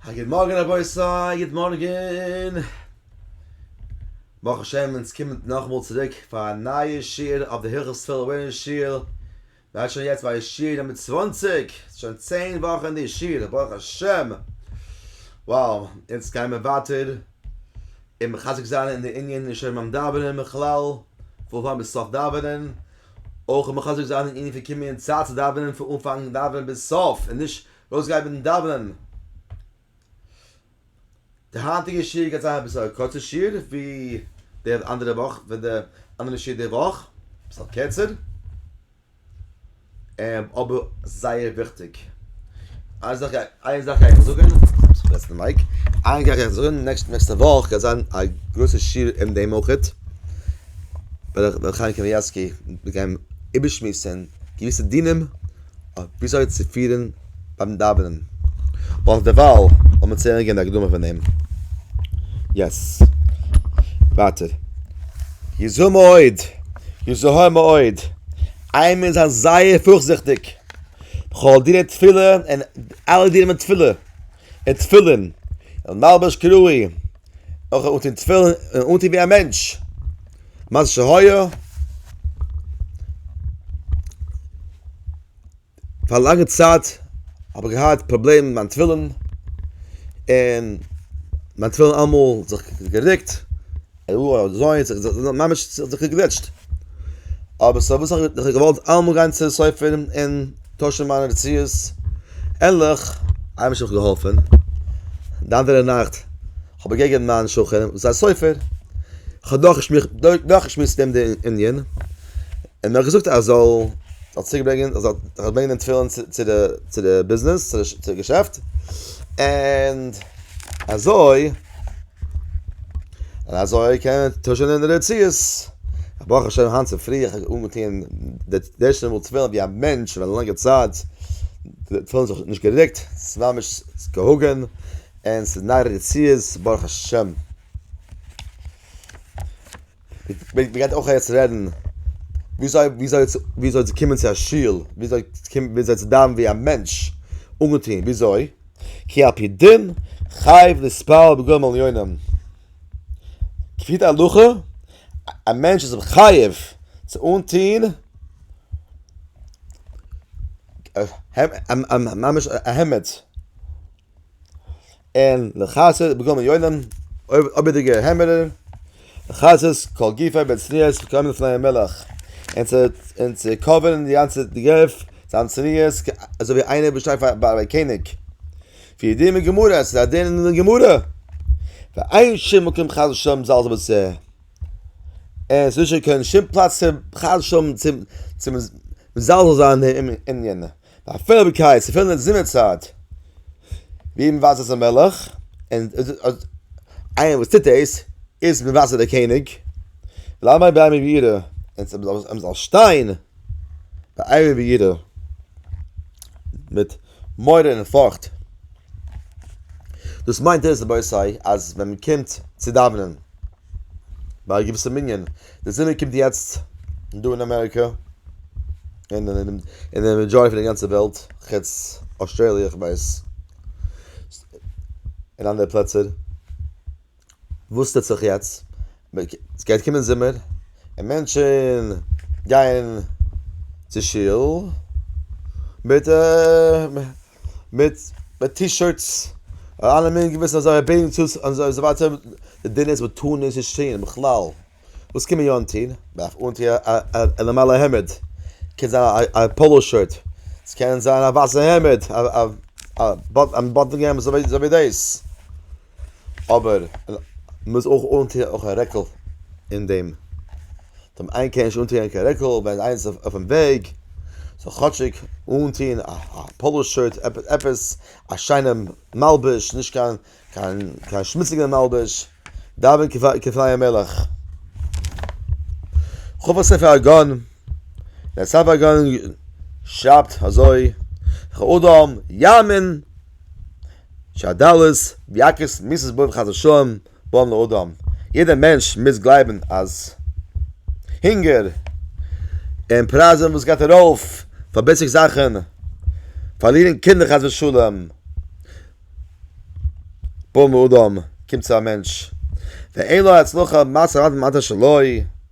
א גוט מארגן רבותי, גוט מארגן! ברוך השם אונז קומען נאכאמאל צוריק פאר א נייע שיעור אויף די הלכות תפילה אויבן אין שול, מ'האט שוין יעצט ביי שיעור נומער צוואַנציק, שוין צען וואכן די שיעור, ברוך השם! וואו! אונז גייען מיר ווייטער און מחזק זיין אין די ענין נישט הערן ביים דאווענען בכלל, פון אנפאנג ביז סוף דאווענען, אויך מחזק זיין אין ענין פון קומען אין צייט צו דאווענען פון אנפאנג דאווענען ביז סוף און נישט ארויסגיין מיטן דאווענען. די היינטיגע שיעור גייט זיין אביסל א קורצע שיעור ווי די אנדערע וואך ווי די אנדערע שיעור די וואך, אביסל קערצער, אבער זייער וויכטיג. איין זאך איין זאך גייעך זאגן, פארגעסן די מייק, איין זאך גייעך זאגן, נעקסטע וואך גייט זיין א גרויסע שיעור אין דעם אויכעט. וועל איך חיים קאניעווסקי גיין איבערשמועסען געוויסע דינים אויף וויאזוי צו פירען ביים דאווענען, אבער דערווייל לאמיר צו הערען די הקדמה פון אים. יעס. ווייטער. יזהר מאוד! יזהר מאוד! איי מיר זיין זייער פארכזיכטיג בכל דיני תפילה און אלע דיני תפילה. און תפילין, און מלבש כראוי, אויך אנטוהן תפילין און אנטוהן ווי א מענטש, מה שהיה, פאר א לאנגע צייט האב איך געהאט פראבלעם מיט מיין תפילין, און מיין תפילין אלעמאל זיך גערוקט. אוי אזוי האט זיך דאס ממש צוגעגליטשט. אבער סא וואס האב איך געוואלט אלעמאל גיין צו די סופר און טוישן מיינע נסיעות, ענליך, איינמאל האט מיך געהאלפן, די אנדערע נאכט האב איך געגעבן מיין שכן וואס איז א סופר, כ'האב נאכגעשמועסט מיט אים די ענין, און ער האט געזאגט אז ער זאל צוריקברענגען ער זאל ברענגען די תפילין צו די צו די ביזנעס צו די געשעפט, און אזוי. און אזוי קען מען טוישען אין די רציעס. ברוך השם היינט צופרי איך האב אנגעטוען די ערשטע מאל תפילין ווי א מענטש פאר א לאנגע צייט, די תפילין האט זיך נישט גערוקט, ס'איז ממש געהאגען, און ס'איז נייע רציעס ברוך השם. מען גייט אויך יעצט רעדן וויאזוי וויאזוי וויאזוי צו קומען צו א שול, וויאזוי צו קומען וויאזוי צו דאווענען ווי א מענטש, אנגעטון וויאזוי, כי על פי דין חייב להתפלל בגוים על יונים, כפי די הלכה א מענטש איז חייב צו אנטון ממש א העמד. און לחסד בגוים עליונים, אויבערדיגע העמערער, לחסד כל גופי בצניעות כקרמל לפני המלך, און צו קאווערן די גאנצע גוף זיין צניעות אזוי ווי איינער וואס שטייט פאר א קעניג, ווי דין בגמרא, ס'איז א דין אין די גמרא, ואין שום מקום חס ושלום זאל עס בצע, און ס'איז נישטא קיין שום פלאץ חס ושלום צו מזלזל זיין אין יענע. ביי פעלביקייט צו פילן די זומער צייט ווי מען ווייזט אויס א מלך און איינער וואס טוט דאס איז מען ווייזט אויס דער קעניג למה ביי מיר בירא און מען זאל שטיין ביי מיר בירא מיט מורא און פארכט דאס מיינט עס רבותי אז ווען מען קומט צו דאווענען ביי א געוויסע מנין, די זומער קומט יעצט דא אין אמעריקא, און אין די מעדזשאריטי פון די גאנצע וועלט, חוץ אויסטרעליע איך ווייס, און אנדערע פלעצער, וואס טוט זיך יעצט? עס גייט קומען זומער, און מענטשן גייען צו שול מיט א. מיט מיט טי שירטס און אלע מינע געוויסע אזוי רבי'ן צו און אזוי ווייטער די דין איז מען טאר נישט עס טוהן בכלל וואס קען מען יא אנטוהן? מען דארף אנטוהן א א נארמאלע העמד קען זיין א פאלא שירט ס'קען זיין א ווייסע העמד א א א באטען העמד אזוי ווי דאס. אבער מ'מוז אויך אנטוען אויך א רעקל אין דעם, דעם איינער קען נישט אנטוען קיין רעקל ווען איינער איז אויפן וועג, זאל כאטשיג אנטוען א פאלא שירט, עפעס א שיינע מלבוש, נישט קיין קיין קיין שמוציגע מלבוש, דאווען כפני המלך. ח ו ספר הגאון, דער ספר הגאון שרייבט אזוי, כ'אדם יאמין שעה ד' ביאקערס מיסס בוים חזו ש בא לאדם, יעדער מענטש מוז גלייבן אז הונגער און פרייזן וואס גייט ארויף פאר בעיסיק זאכן, פארלירן קינדער חס ושלום, בא לאדם קומט צו א מענטש ואין לו הצלחה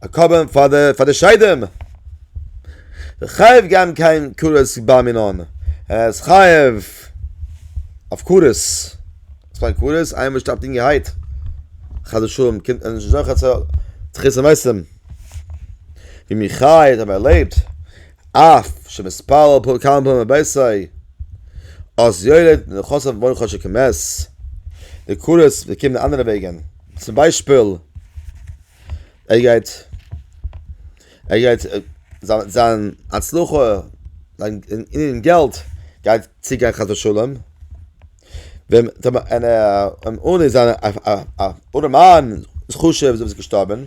א קרבן פאר די פאר די שדים. דער חייב געבן קיין כרת בר מינן, ער איז חייב אויף כרת, וואס מיינט כרת? איינער וואס שטארבט אינגערהייט, חס ושלום, קומט מען נישט זוכה צו תחית המתים, ווי מיר חי האט ער לעבט, אף שמתפלל פ כמה פעמים בביתו, אז יולד נכסיו בנו חשב כמת, די כרת וועט קומען אנדערע וועגן, צום ביישפיל. ער גייט ער גייט זיין זיין הצלחה זיין אין געלט גייט צוגיין חס ושלום ווען טאמער אין אן אן זיין א ארעמאן איז חשוב זיי געשטארבען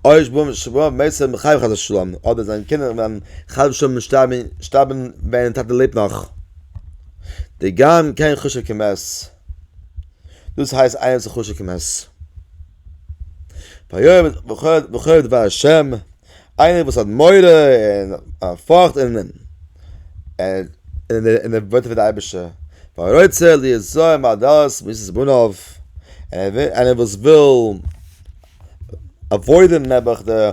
אויש בום שבא מעשה מחייב חס ושלום אדער זיין קינדער וועלן חס ושלום שטארבען שטארבען ווען טאטע לעבט נאך די גאון קען חשוב כמת דאס הייסט איינער וואס איז חשוב כמת. בוחר דבר השם, איינער וואס האט מורא און פארכט און און ער ווארט אויף די אייבערשטער, ורוצה ליזהר מעדות מיתות בניו, איינער וואס וויל עוואוידען נעבעך די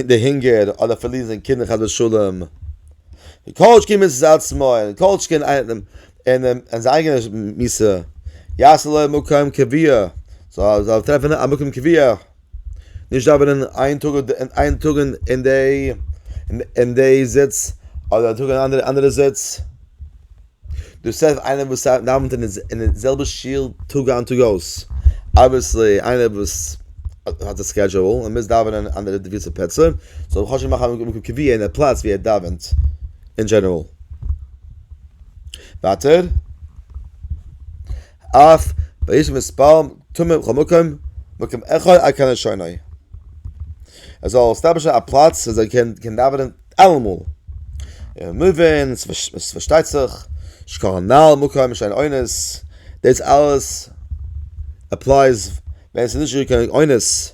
די הונגער אדער פארלירן זיין קינדער חס ושלום, וכל שכן מצות עצמו, וכל שכן איינער און און זיין אייגענע מיסע יעשה לו מקום קביע זאל זאל טרעפן א מקום קביע נישט דאווענען איין טאג און איין טאג און און דעי און דעי זיץ אדער א טאג און אנדערע אנדערע זיץ דאס איז איינער וואס דאווענט אין די זעלבע שול טאג איין טאג אויס אבוויעסלי איינער וואס האט א סקעדזשועל און מוז דאווענען אין אנדערע געוויסע פלעצער זאל חאטש מאכן א מקום קביע אין א פלאץ ווי ער דאווענט אין דזשענעראל. ווייטער, אף וישב מספר תמים בכל מקום, מקום אחד על כנה שני. ער זאל עסטאבלישן א פלאץ וואו ער קען דאווענען אלעמאל. און מבין, עס פארשטייט זיך, שכל הנעל במקום שאין אונס, דאס אלעס עפלייס ווען עס איז נישטא קיין אונס.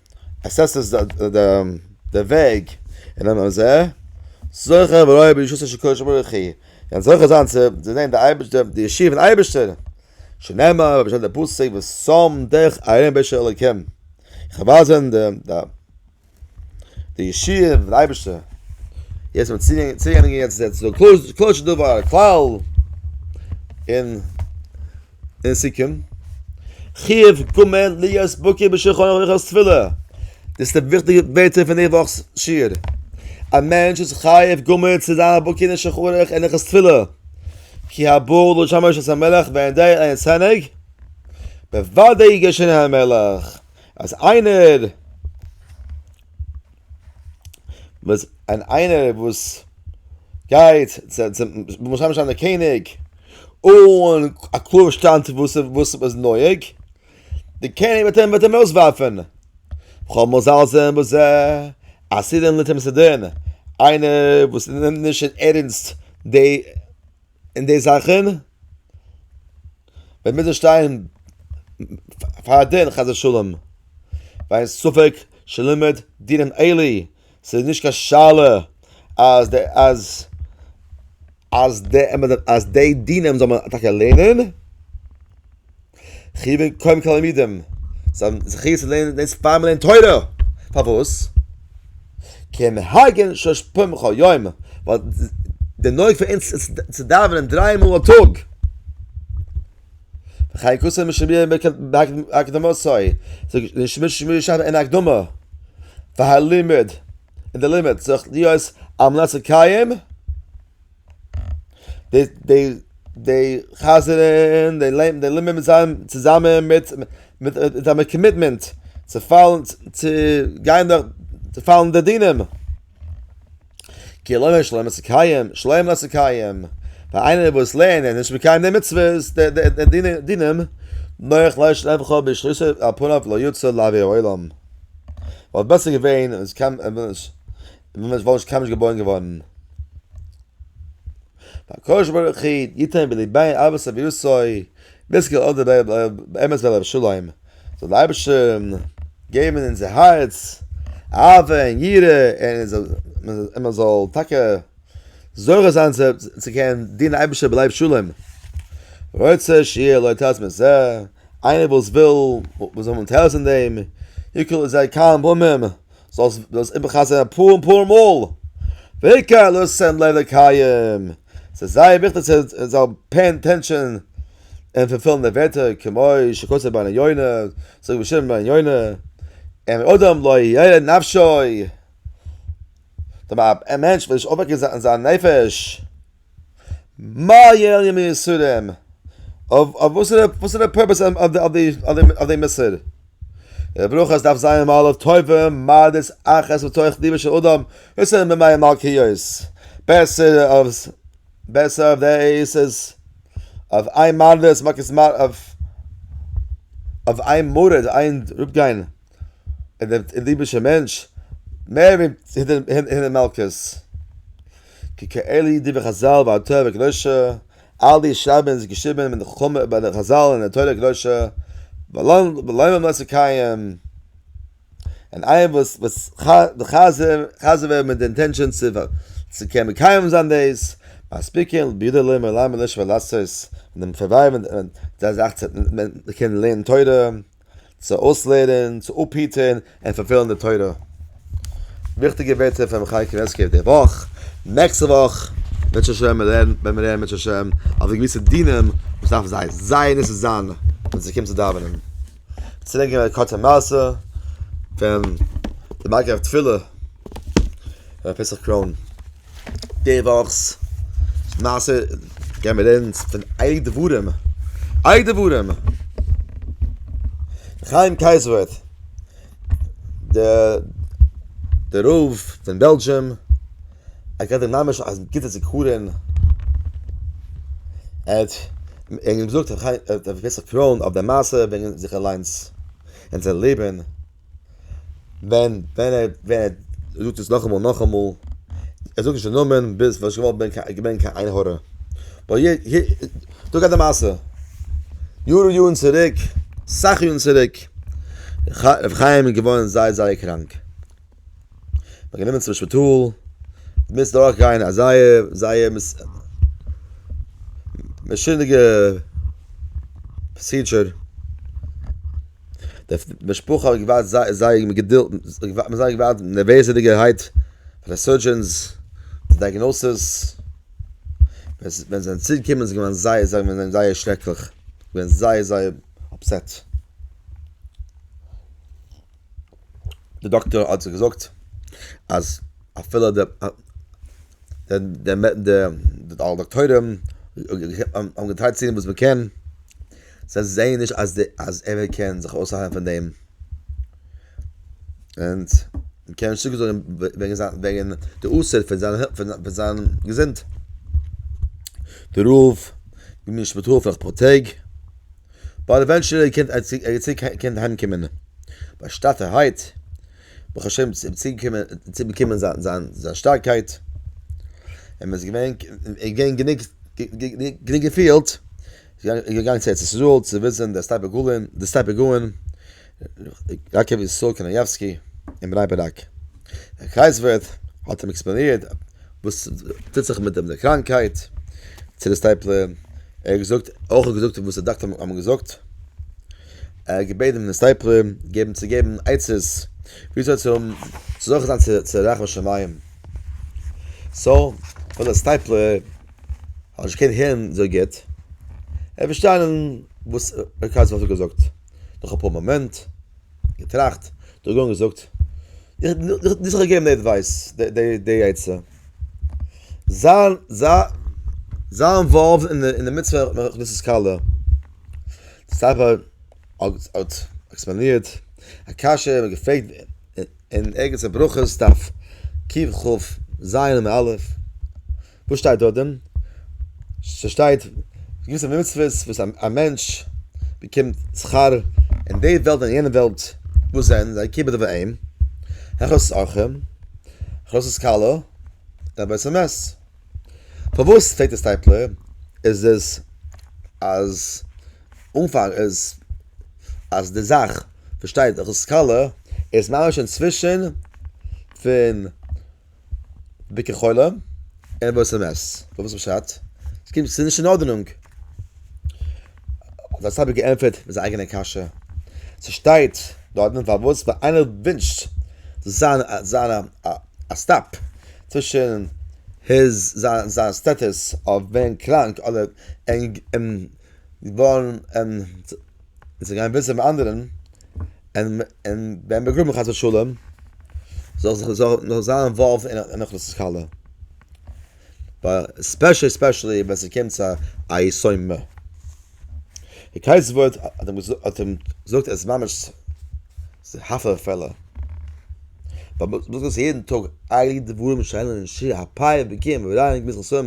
עס עס איז דער וועג אין דעם אזע זאך אבער אויב איז שוין שכוח שמו וכי אין זאך איז אנצו די זען די אייבערשט דעם די ישיבה פון אייבערשטער שנעמה אבער שוין דער פוסק וואס סאם דעך ארום בעשע אלקים חבאזן דעם דעם די ישיבה פון אייבערשטער יעצט מיט ציגן ציגן יעצט דער צו קלויז קלויז דא וואר קלאו אין אין סיכום, חיוב קומען להיות בקי בשולחן ערוך בעת תפילה, דאס איז די וויכטיגע ווערטער פון די וואכ'ס שיעור, א מענטש איז חייב גמור צו זיין בקי אין שולחן ערוך אין הלכות תפילה, כי הבעל לא שמע שעת המלך ואין די עין צנג, בוודאי יגרשנה המלך, אז איינער. וואס אן איינער וואס גייט צו משה משאן דער קעניג און א קלאר שטאנד וואס וואס איז נויג די קעניג וועט אים וועט אים אויסווארפן כל מזל זה בזה אז סידן ליתן מסדרין איינער וואס נעמט נישט אין ערענסט די אין די זאכן ווען מיר זאל שטיין פאר דין חס ושלום ווייל ספק שלומד דינן עלי ס'איז נישט קיין שאלה אז די אז אז די אז די דינען זאל מען טאקע לערנען. חיווען קוים תלמידים זיי האבן זכי' צו לערנען דאס פאר מ'לערנט תורה, פארוואס? כמנהגן שש פעמים כל יום, ווייל די נוהג פון אונז איז צו דאווענען דריי מאל א טאג, וכן כתוב משמיע בהקדמתו, משמיע שב אין הקדמה, והלימוד, און די לימוד צריך להיות על מנת לקיים די די די חזר'ן די לעבן די לעבן מיט זיין צוזאמען מיט מיט זיין מיט קאמיטמענט צו פאלן צו גיין דורך צו פאלן די דינים כאילו נישט לערנען צו קייען שלעם לערנען צו קייען פאר איינער וואס לערנט און נישט מקיים די מצוות די די די דינען נאר איך לייש לערנען וכו' בשליסע א פאנאו לא יוצא לאווי אוילאם וואלט בעסער געווען עס קען ווען מ'איז וואלט נישט קיינמאל נישט געבוירן געווארן. והקדוש ברוך הוא יתן בלבי אהבת סבי יוסוי בזכות אור דבריו באמת ועליו השלום, זאל דער אייבערשטער געבן אין אונזער הארץ אהבה און יראה און און מען זאל טאקע זוכה זיין צו קענען דינען אייבערשטער בלב שלם. רוצה שיהיה לו תועלת מזה, איינער וואס וויל, וואס זאל האבן תועלת אין דעם, יקל עליו זייער קל און באומען אים. זאלסט דאס איבערחזר'ן אפאר און אפאר מאל, והעיקר לא שם לב לקיים, ס'איז זייער וויכטיג צו זאל פעי אטענשאן און פולפילן די ווערטער, כמו שכתוב בן יונה, זאגט רבי שמעון בן יונה, אם אדם לא ירא נפשו, א מענטש וויל נישט אויפוועקן זיין נפש, מה יהיה על ימי יסורים? וואסערע פורפעס אויף די מסור? די ברכות דארף זיין מלא טובים, מדת אחת מתוך ליבו של אדם, דאס איז ממאי מלכיות, בעסער אויף דעיס איז אויף איין מדת, אויף איין מרת, איין אראפגיין. און דער ליבערשער מענטש, מער ווי הינער מלקות. כ ק אלי דברי חזל והתורה הקדושה, אל די שרייבען איז געשריבען מיט חכמה איבער די חזל און די תורה הקדושה, ולומר מות הקיים, און איינער וואס וואס חזר חזר ווערט מיט די אינטענשאן צו קען מקיים זיין דאס, מספיקין בידי לומר למה לשמוע לעשות, און דעם פארווייל ווען די זאך צו מען קען לערנען תורה. צו אויסלערנען, צו אפהיטען און פארפעלן די תורה. וויכטיגע ווערטער פון רבי חיים קנייבסקי אויף די וואך, נעקסטע וואך וועט שוין שוין מען לערנען ווען מיר לערנען מיט השם אויף די געוויסע דינים וואס דארף זיי זייער נישט זיין ווען ס'קומט צו דאווענען. צוריק געבן א קורצע מעשה פון די מגיה אויף תפילה, רבי פסח קרוין. די וואכ'ס מעשה גייען מיר רעדן פון עלי דברים, עלי דברים! חיים קייזעווער, די רב פון בעלזשום, ער געהאט ממש א גוטע זיכרון, ער האט געזאגט, ער האט געווען געווען א קראון אויף די מעשה וועגן זיך אליינס, און זיין לעבן. ווען ווען ער ווען ער זאגט עס נאכאמאל נאכאמאל ער זאגט נישט די נאמען ביז וואס איך וואלט געווען קיין עין הרע ווייל יעדע דא גייט די מעשה יאר און יארן צוריק סאך יארן צוריק ר' חיים איז געווארן זייער זייער קראנק מען האט גענומען צום שפיטאל מוז דורך גיין א זייער זייער מעשונ'דיגע פראסידזשער די משפחה האט געווארט זייער זייער מיט געדולד, מ'האט זייער געווארט נערוועזעדיגערהייט פאר די סורדזשענס די דייגנאסעס, ווען זיי זענען צוריק געקומען איז געווען זייער זייער מיר זענען זייער שרעקליך, געווען זייער זייער אפסעט, די דאקטער האט זיי געזאגט אז אפילו די די די דאקטוירים האבן געטרייט צו טון וואס מ'קען. זיי זעען נישט אז די אז ער קען זיך אויסהיילן פון דעם אונז קען נישט צוריק זאגן וועגן זיין וועגן די אוסר פון זיין פון זיין געזונט די רוב געבן נישט מיט הילף פאר אפאר טעג באט עווענטשעלי קען ער צוריק קען אהיים קומען באשטאטערהייט ברוך השם צוריק קומען צוריק באקומען זיין זיין זיין שטארקייט און מען איז געווען געווען גענוג גענוג געפילט זי איז געגאנגען צו ארץ ישראל צו וויזן די סטייפע גאלן, די סטייפע גאון ר' יעקב ישראל קנייבסקי אין בני ברק. דער קרייזווירט האט אים עקספלאנירט וואס טוט זיך מיט דעם דער קראנקהייט צו די סטייפלע, ער האט געזאגט, אויך געזאגט וואס די דאקטער האבן געזאגט, ער האט געבעטן די סטייפלע געבן צו געבן עצות וויאזוי צו האבן צו זוכה זיין צו רחמי שמים, סאו פאר די סטייפלע. האט נישט געקענט הערן אזוי גוט, ער האט פארשטאנען וואס ר' קאצקער האט געזאגט, נאך אפאר מאמענט, געטראכט, דורכגעגאנגען געזאגט, דיר זיך געגעבן די עדווייס, די עצה, זיי אינוואלווד אין די מצוה פון הכנסת כלה, די סטאפער האט עקספלאנירט א קשיא און געפרעגט אין ערגעץ אין ברכות דף ק ח ז עמוד א'. וואס שטייט דארט דען? ס'שטייט געוויסע מצוות וואס א מענטש באקומט שכר אין די וועלט און יענע וועלט, וואס זענען זיי? כי בדבר אין, הכנסת אורחים, הכנסת כלה, די בית המת. פארוואס פרעגט דער סטייפלער? איז עס אז אנפאנג איז אז די זאך וואס שטייט הכנסת כלה איז ממש אינצווישן פון בוקר חולה אין וואס איז מעס וואס פשט עס קומט צו נישט אין ארדענונג האט דער סאבי געענטפערט מיט זיין אייגענע קשיא ס'שטייט דארטן פארוואס ווען איינער ווינטשט זיין זיין א סטאפ צווישן היז זיין זיין סטעטוס אויף ווערן קראנק אדער געווארן און זיי גייען וויסען אנדערען און און ווען מען גראבען חס ושלום זאל זיך זאל נאר זיין אינוואלווד אין אוכלוס כלה ווייל ספעשעלי ספעשעלי ווען ס'קומט צו א יסוד מ די קייט סווערט האט אים געזאגט האט אים געזאגט עס איז ממש הפלא ופלא יעדן טאג אייליגט די דברים שיינען אין שי ה פיי ווי קים ווי ריין ווי ס ה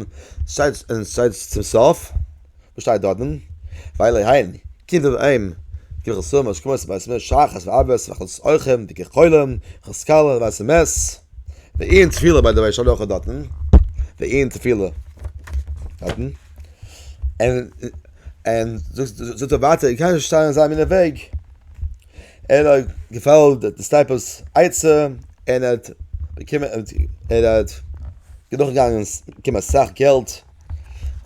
שטייט אין שטייט צום סוף. וואס שטייט דארט דען? ווייל עהעם, קומט דען עהעם, כמחל סומא, שקמות ובית מש, שחת ועבס, ואכלת סוחרים, דיקע חולים, אכלת סקאלע, ווייסע מעש, ועיין תפילה ביי די בית הלכה דארטן, ועיין תפילה דארטן, און און זאגט ער ווייטער, איך קען נישט שטיין אזא מינע וועג, ער האט געפאלגט די סטייפערס עצה, און ער האט באקומען, און ער האט דורכגעגאנגען כמעט אסאך געלט.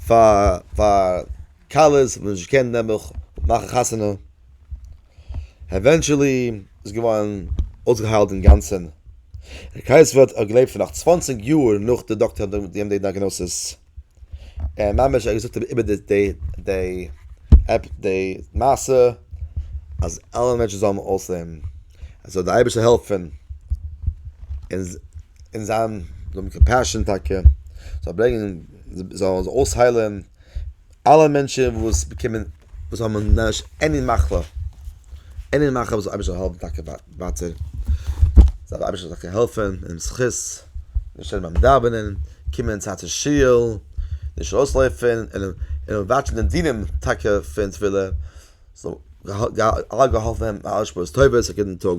פאר פאר כלות וואס נישט געקענט נעמען מאכן חתונה, עווענטשעלי איז געווארן אויסגעהיילט אינגאנצען, ר' קייסוויל האט געלעבט פאר נאך צוואנציג יאר נאך די דאקטער האט געגעבן די דיאגנאזיס, ער האט ממש געזאגט איבער די די די די מעשה אז אלע מענטשן זאלן אויסלעבן, עס זאל די אייבערשטער העלפן. און זיין זאל האבן קאמפעשאן טאקע, זאל ברענגען, זאל אויסהיילען אלע מענטשען וואס באקומען, וואס האבן ממש עני מחלה, עני מחלה זאל אייבערשטער האלפן טאקע ווייטער, זאל אייבערשטער טאקע העלפען און אים זכות געשען ביים דאווענען, קומען צייט צו שול, נישט אויסלויפען, און וואטשען די דינים טאקע פון תפילה, זאל אלע געהאלפען ווערן מיט אלע שפעות טובות א גוטן טאג.